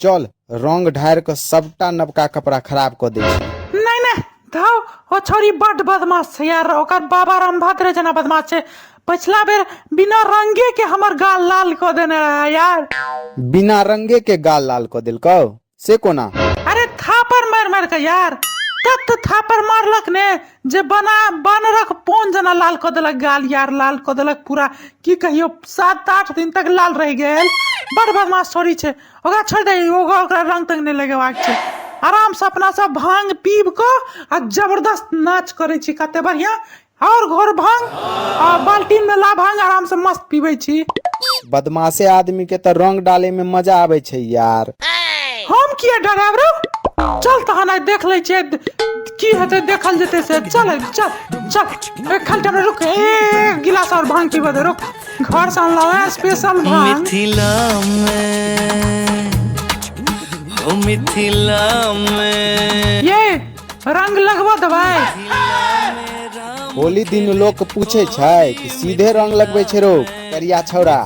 चल रंग ढारि कऽ सबटा नवका कपड़ा खराब कऽ दै छी नहि नहि धाउ ओ छौरी बड्ड बदमाश छै यार ओकर बाबा रामभद्र जेना बदमाश छै पछिला बेर बिना रंगे के हमर गाल लाल कऽ देने रहा यार बिना रंगे के गाल लाल कऽ देलकौ से कोना अरे थापड़ मारि मारि कऽ यार तत थापड़ मारलक ने जे बना बानरक पोन जेना लाल कऽ देलक गाल यार लाल कऽ देलक पूरा की कहियो सात आठ दिन तक लाल रहि गेल बड़ बदमाश छोड़ी छै ओकरा छोड़ि दही ओकरा ओकरा रंग तंग नहि लगेबाक छै आरामसँ अपना सब भांग पीब कऽ आ जबरदस्त नाच करै छी कते बढ़िआँ आओर घोर भांग आ बाल्टीन मे ला भांग आरामसँ मस्त पीबै छी बदमाशे आदमी के तऽ रंग डाले में मजा आबे छै यार हम किया डराब रौ चल तहन आइ देख लै छियै की हेतै देखल जेतै से चल चल चल एक घंटा में रुक एक गिलास और भांग पीबे दे रुक घर से अनला है स्पेशल भांग मिथिला में हो मिथिला में ये रंग लगबो दबाई होली दिन लोक पूछे छै कि सीधे रंग लगबे छै रोग करिया छौड़ा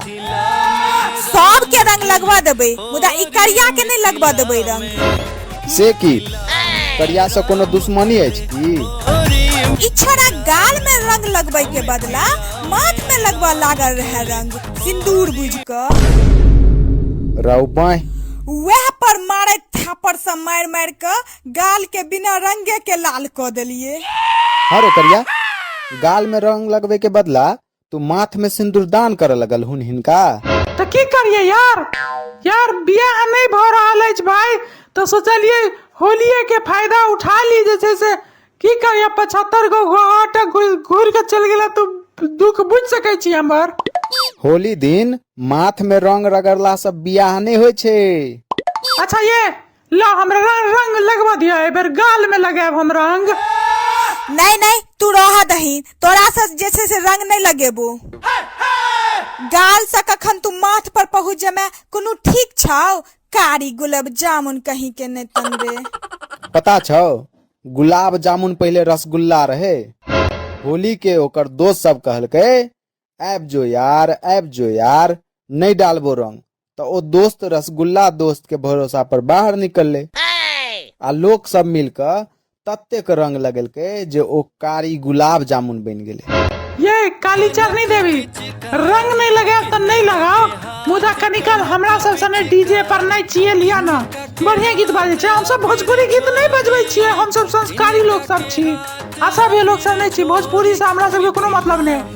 सबके रंग लगवा देबै मुदा ई करिया के नहि लगवा देबै रंग से की करिया से कोनो दुश्मनी अछि की ई छोरा गाल में रंग लगबै के बदला माथ में लगवा लागल रहे रंग सिंदूर बुझ क रहू बाँह वएह पर मारैत थापड़ से मारि मारि क गाल के बिना रंगे के लाल क देलिए हँ रे करिया गाल में रंग लगबे के बदला तू माथ में सिंदूरदान करे लगल हुन हिनका तऽ की करियै यार यार बियाह नहि भऽ रहल अछि भाय तऽ सोचलियै होलिये के फायदा उठा ली जे छै से की करियै पचहत्तर गो घाट घूर के चलि गेला तू दुख बुझि सकै छी हमर होली दिन माथ में रंग रगड़ला से बियाह नहीं होय छे अच्छा ये ला हमरा रंग रंग लगवा दिया एहि बेर गाल में लगाएब हम रंग नहीं नहीं तू रह दही तोरा से जैसे से रंग नहीं लगेबू गाल से कखन तू माथ पर पहुँच जमे कोनो ठीक छाओ कारी गुलाब जामुन कहीं के नहीं तनबे पता छौ गुलाब जामुन पहिले रसगुल्ला रहे होली के ओकर दोस्त सब कहलकै आबि जो यार आबि जो यार नहि डालबो रंग तऽ ओ दोस्त रसगुल्ला दोस्त के भरोसा पर बाहर निकलले आ लोक सब मिलकर ततेक रंग लगेलकै जे ओ कारी गुलाब जामुन बनि गेलै ये काली चरनी देवी रंग नहीं लगाओ तो नहीं लगाओ मुदा कनिकाल हमरा सब सने डीजे पर नहीं चाहिए लिया ना बढ़िया गीत बाजे छे हम सब भोजपुरी गीत नहीं बजबै छिए हम सब संस्कारी लोग सब छी आ सब ये लोग सब नहीं छी भोजपुरी से हमरा सब के कोनो मतलब नहीं